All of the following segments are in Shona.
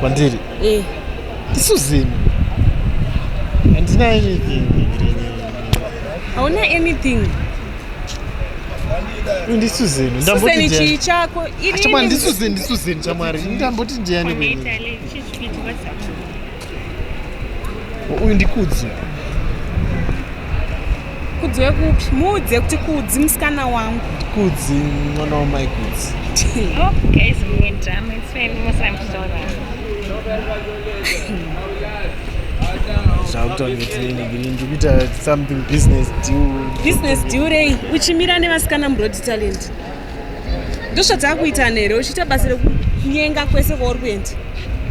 kwandiri eh. isu zimi handina anything hauna anything ndisu zenu ndamboti chii chako ndisu zenu ndisu zenu chamwari ndamboti ndiani uyu ndikudzi kudzi wekupi muudze kuti kudzi musikana wangu kudzi mwana wamai kudzi oh, zvakutauretiinigirindikuita something business deal business deal rei uchimira nevasikana murodi talent ndozvatakuita nhere uchiita basa rekunyenga kwese kwauri kuenda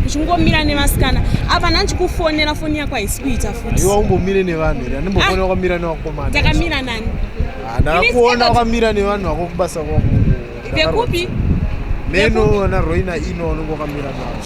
uchingomira nevasikana apa ndanchikufonera foni yako haisi kuita futiiwa umbomire nevanhu here andimbofonera ah! kwamira nevakomana takamira nani ah, ndakakuona kwamira nevanhu vako kubasa kwako vekupi meno na roina ino unenge wakamira navo